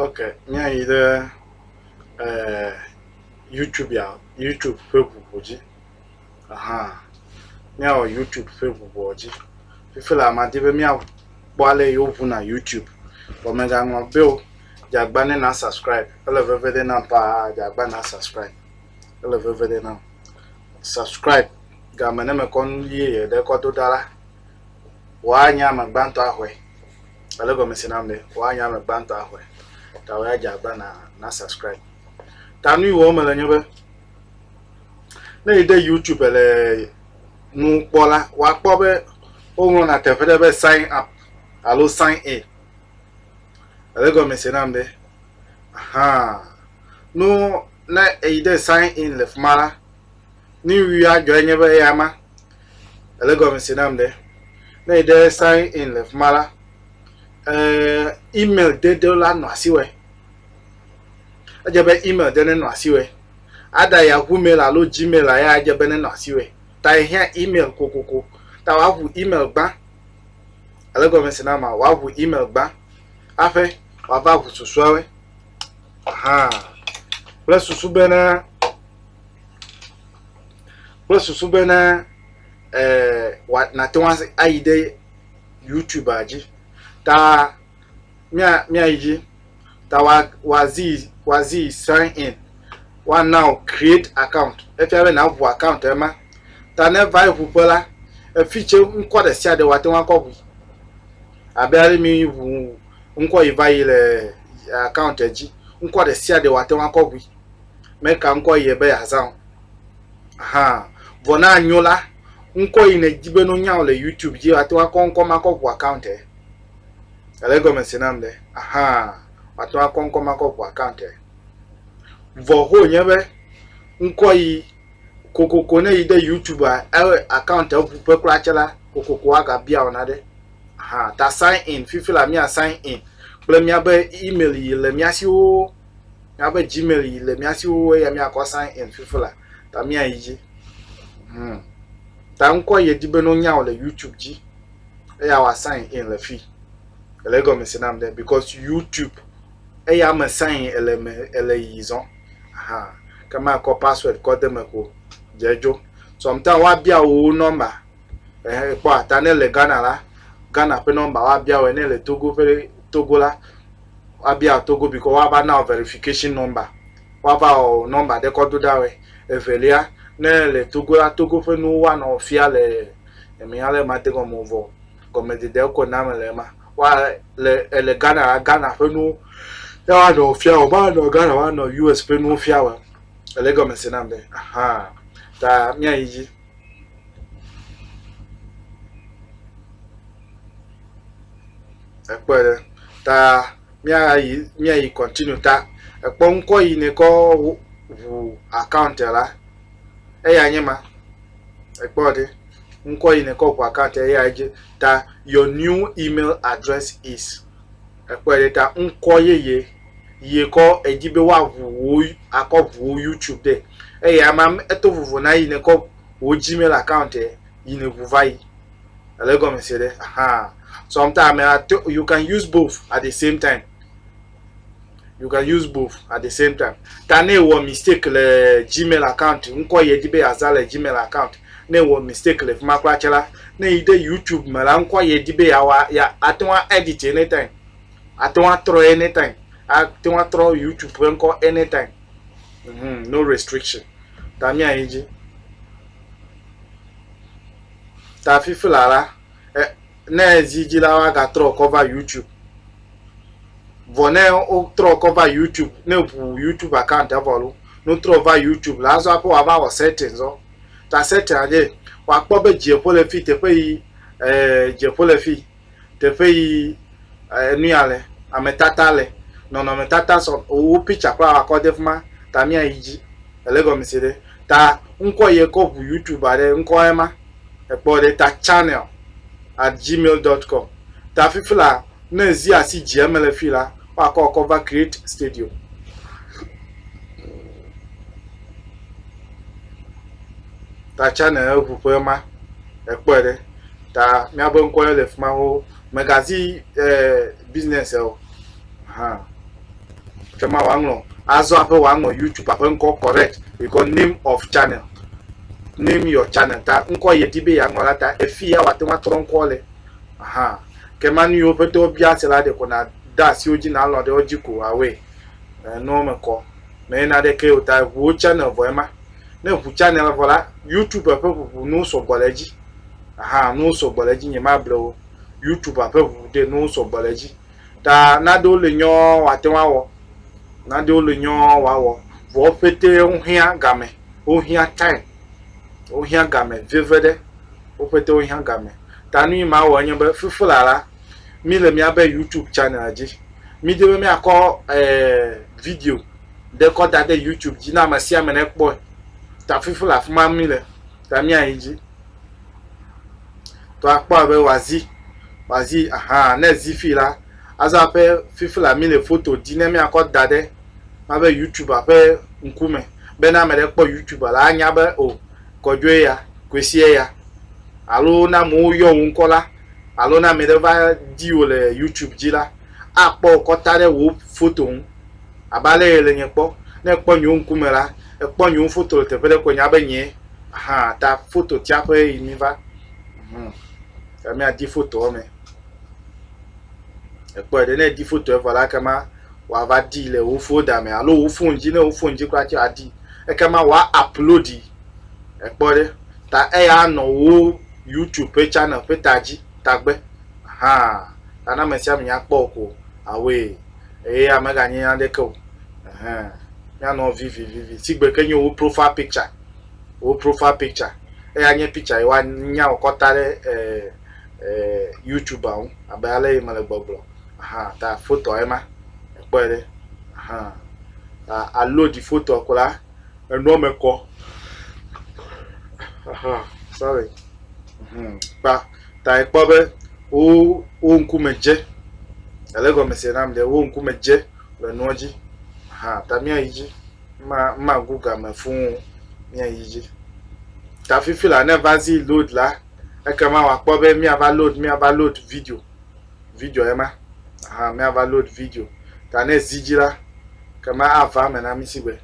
Ok, míayi ɖe eh, YouTubea, YouTube ƒe ʋuʋu dzi. Aha, míawɔ YouTube ƒe ʋuʋua dzi. Fifi la madi be míakpɔ ale yi woʋuna YouTube. Vɔ mègaŋlɔ be o, dzeagba ne na subscribe. Ele veve ɖe nam paa, dzeagba na subscribe. Ele veve ɖe nam. Subscribe game ne mekɔ nu yeye ɖe kɔ do ɖa la, wòanye ame gbãtɔ ahɔe. Ele gɔme se na be woanya ame gbãtɔ axɔe. Ta wòya dze agba na na subscribe. Ta nu yi wɔm mele nye be ne yi ɖe YouTube le nu kpɔ la, woakpɔ be woŋlɔna teƒe ɖe be sign up alo sign in. Ele gɔme se na be aha nu ne eyi ɖe sign in le fi ma la, nu yi adzɔe nye be eya ma. Ele gɔmesi nam ɖe. Ne yi ɖe sign in le fima la, eh, email dede la nɔ asi wɛ. Edze be email de ne nɔ asi wɛ. Ada Yahoo mail alo Gmail la ya edze be ne nɔ asi wɛ. Ta ehiã email kokoko. Ta woaʋu email gbã. Ele gɔmesi nam ma, woaʋu email gbã. Aƒe wòava ʋu susuawe. Aha. Kple susu bena kple susu bene wa nàte ŋu ayi ɖe Youtubea dzi ta mía míayi dzi ta wa wazi wazi sign in woana wò create account efia be nàŋu account ema ta ne eva yi ŋuƒe la efi tse ŋkɔ ɖe sia ɖe woate ŋu akɔ ŋui abe ale mi ŋu ŋkɔ yi va yi le account dzi ŋkɔ ɖe sia ɖe woate ŋu akɔ ŋui. Meka ŋkɔ yɛ be yeazã o. Ahan. Vɔ ne anyo la, ŋkɔ yi nèdi be no nyao le YouTube dzi, woate ŋu akɔ ŋkɔ ma kɔ ŋu account ɛ. Èle egɔme se nam ɖe? Ahan. Woate ŋu akɔ ŋkɔ ma kɔ ŋu account ɛ. Vɔ ho nye be ŋkɔ yi kokoko ne yi ɖe YouTube a ɛ account ɛ ŋu ƒe kura tse la, kokoko woagabia wò naɖe. Ahan. Ta sign in. Fifi la mía sign in kple míabe email yi le mía si woo. Míaƒe Gmail yi le mía si xoxo eya míakɔ sign in fifi la ta míayi dzi. Hmm. Ta ŋkɔ ye di be no nyao le YouTube dzi eya wa sign in le fi. Ele gɔme se nam de because YouTube eya me sign in ele me ele yi zɔn. Aha. Kama kɔ password kɔ de me ko. Dzedzo. Sometimes wa bia wo number. Eh kpɔ ata ne le Ghana la Ghana pe number wa bia wo ne le Togo pe Togo la woabia Togo bikɔ woava na wò verification number, woava wɔ wò number ɖe kɔ do ɖa wɛ. Evelia, ne èle Togo la, Togo ƒe nuwo woanɔ wò fia le eme ale be màde gɔme o vɔ gɔmedede ko na mele ema. Wa le èle Ghana la, Ghana ƒe nuwo ya woanɔ wò fia wɛ. Womanɔ Ghana woanɔ US ƒe nuwo fia wɛ o. Èle egɔme se nam be? Ahan ta míayi dzi. ekpɔe ɖe ta míayi míayi kɔntinu ta ekpɔ ŋkɔ yi ne kɔ ʋu akawunt la eya nye ma ekpɔ ɖe ŋkɔ yi ne kɔ ʋu akawunt eya dzi ta your new email address is Ekpɔe ɖe ta ŋkɔ yeye yie kɔ edzi be woaʋu wò akɔ ʋu wò YouTube de eye ama eto vovo na yi nekɔ wò Gmail account e yi ne ʋu vayi. Ele gɔme se ɖe? Ahaa. Sometimes you can use both at the same time. You can use both at the same time. Ta ne wɔ mistake le Gmail account, ŋkɔ yɛ di be aza le Gmail account. Ne wɔ mistake le fima kura tsɛ la, ne yi de YouTube me la, ŋkɔ yɛ di be ya wa ya ate ŋu edit anytime. Ate ŋu atrɔ anytime. Ate ŋu atrɔ YouTube ƒe ŋkɔ anytime. Mm -hmm, no restriction. Ta mía yi dzi. Ta fifi la la, eh, ne ezi dzi la woagatrɔ kɔ va youtube vɔ ne wotrɔ kɔ va youtube ne ʋu youtube account vɔ lo ne wotrɔ va youtube la azɔ aƒe wòava wɔ setting zɔ ta setting adze wòakpɔ be dzieƒo le fi teƒe yi ee dzieƒo le fi teƒe yi enu ya le ametata le nɔnɔmetata sɔ owó picture kura wakɔ de fi ma ta míayi dzi ele gɔmese ɖe ta ŋkɔ yi ekɔ ʋu youtube aɖe ŋkɔ ema Ekpɔ ɖe ta channel at gmail dot com. Ta fifi la, ne zi asi dzi eme le fi la, woakɔ kɔ va Create Studio. Ta channel eŋu ƒe ma, ekpɔ ɖe ta míaƒe ŋkɔ le fi ma ho. Megazi eh, business eh, o. Huh. ke ma wòaŋlɔ azɔ aƒe wòaŋlɔ youtube aƒe ŋkɔ correct yikɔ name of channel name your channel ta ŋkɔ yɛ di be yeaŋlɔ la ta efi ya wòate ŋu atrɔ ŋkɔ le aha ke ma nu yiwo ƒete wobia se la ɖeko na da asiwo dzi nalɔ ɖe wo dzi ko awɔe nua me kɔ mɛ na ɖe ke o ta ʋuwo channel vɔ ema ne ʋu channel vɔ la youtube ƒe ʋuʋu nuwo sɔgbɔ le edzi aha nuwo sɔgbɔ le edzi nye ma blewo youtube ƒe ʋuʋu de nuwo sɔgbɔ le edzi Ta naɖewo li nyɔ woate ŋu awɔ, naɖewo li nyɔ woawɔ. Vɔ wo ƒetee wohiã gamɛ. Wohiã time. Wohiã gamɛ veviɖe. Wo ƒete wohiã gamɛ. Ta nu yi mawɔ enye be fifilala, mí le míabe YouTube channel dzi. Mí di be míakɔ e video ɖe kɔ da ɖe YouTube dzi ne ame sia ame nekpɔɛ. Ta fifi le afi ma mí le. Ta míayi dzi. To akpɔ abe wòazi, wòazi, aha, ne zi fi la, azɔ aƒe fifi la mi le foto di ne miakɔ da ɖe mabe YouTube ƒe ŋkume. Be ne ame ɖe kpɔ YouTube la, anya be o, oh, kɔdzoe ya, kwesiɛ ya. Alo ne amewo yɔ wò ŋkɔ la, alo ne ame ɖe va di wò le YouTube dzi la, akpɔ wò kɔta ɖe wò foto ŋu. Abe ale ye le nye kpɔ. Ne ekpɔ nye ŋkume la, ekpɔ nye foto le teƒe ɖe ko nya be nyee. Aha ta foto tiaƒe yi mi va. Hmm. Ta mi adi fotoa me. Ekpɔ ɖe ne di foto evɔ la kema wa va di le wo folder me alo wo phone dzi ne wo phone dzi kura ti adi. Ekema wa upload yi. Ekpɔ ɖe ta eya nɔ wo YouTube ƒe channel ƒe ta dzi tagbe. Aha. Ta na me sia me nya kpɔ ko. Away. Eya meganye nya ɖeke o. Ɛhɛn. Míanɔ vivivivi. Sigbe ke nye wò profile picture. Wò profile picture. Eya nye picture yi woanya wò kɔta ɖe ɛɛ ɛɛ YouTube ŋu abe ale yi mele gbɔgblɔ. Ahan ta fotoa ye ma. Èkpɔe ɖe. Ahan. Ta àloadi fotoa ko la, enua me kɔ. Aha, sorry. Hmm. Kpa ta ekpɔ be wo wo ŋkume dze. Ele gɔme se nam ɖe wo ŋkume dze le nua dzi. Aha, ta mía yi dzi. Ma ma gu game fuu mía yi dzi. Ta fifi la ne va zi load la, ekema wa kpɔ be mía va load mía va load video. video ema aha míava load video ta ne zi dzi la kema ava eme na mí sigbe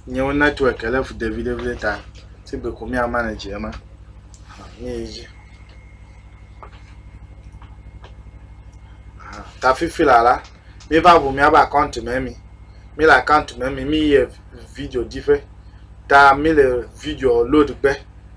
nyewo network ele fu ɖevi ɖevi ta sigbe ko míama ne dzi ema mi yi dzi ta fifi la la mi va ʋu míaba account me mi mi le account me mi mi yɛ video ɖiƒe ta mi le video load gbe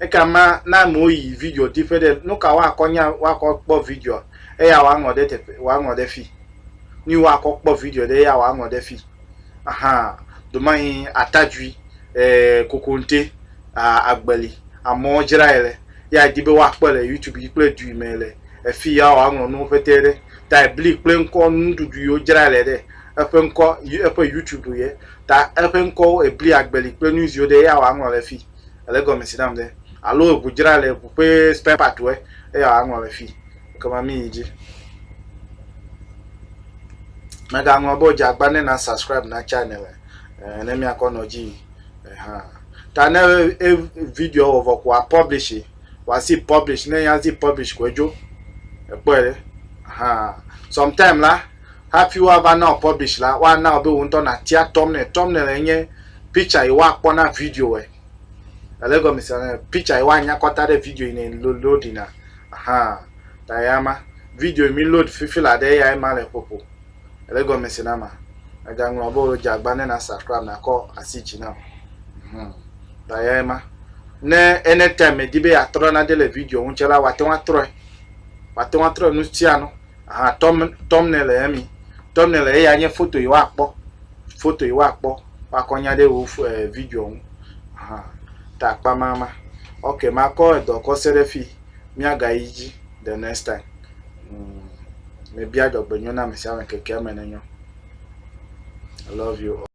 Ekema na amewo yi video di ƒe ɖe nu ka woakɔ nya woakɔ kpɔ videoa eya woaŋlɔ ɖe teƒe woaŋlɔ ɖe fi. Nui woakɔ kpɔ video ɖe eya woaŋlɔ ɖe fi. Aha domahi atadzui, e kokonte, a agbeli amewo dzrae le ya edi be woakpɔe le youtube dzi kple dui me le efi ya woaŋlɔ nuwo ƒete ɖe ta ebli kple ŋkɔ nuɖuɖu yiwo dzrae le ɖe eƒe ŋkɔ eƒe youtube ye ta eƒe ŋkɔwo ebli agbeli kple nuiziwo ɖe ya woaŋlɔ le fi. Ele egɔme si nam ɖe. Alo eŋu dzra le eŋu ƒe spare part wɛ eya wa ŋlɔ le fi. Ekema mi yi dzi. Mega ŋlɔ bo dze agba ne na subscribe na channel le. Eh, ne mi akɔ nɔ dzi. Eh, ha. Ta ne e video wɔ vɔ ko a publish e. Wa si publish ne ya zi publish ko edzo. Ekpɔ e. Ha. Sometime la. Hafi woava na wò publish la, woana wò be wò ŋutɔ nàtia thumbnail. Thumbnail nye picture yi woakpɔ na video ɛ. Èle egɔme se? Ɛ, picture yi woanya kɔ ta ɖe video yi ne lo, loadina. Ahan. Ta eya ma. Video yi mi load fifi la ɖe eyae ma le ƒoƒo. Èle egɔme se na ma? Mègaŋlɔ be wodze agba ne na subscribe nakɔ asi dzi nam. Hm. Ta eyae ma. Ne anytime mèdi be yeatrɔ nane le video ŋu tsɛ la, wòate ŋu atrɔɛ. Wòate ŋu atrɔɛ nusianu. Aha thumbnail ye mi. Thumbnail ye ya nye foto yi wa kpɔ. Foto yi wa kpɔ. Wa kɔ nya de wo eh, video ŋu. Aha. Ta kpa ma ma. Ok, ma kɔ edɔ kɔ se ɖe fi. Mia ga yi dzi the next time. Mm. Me bia dɔgbe nyo na me sia me keke me ne nyo. I love you all.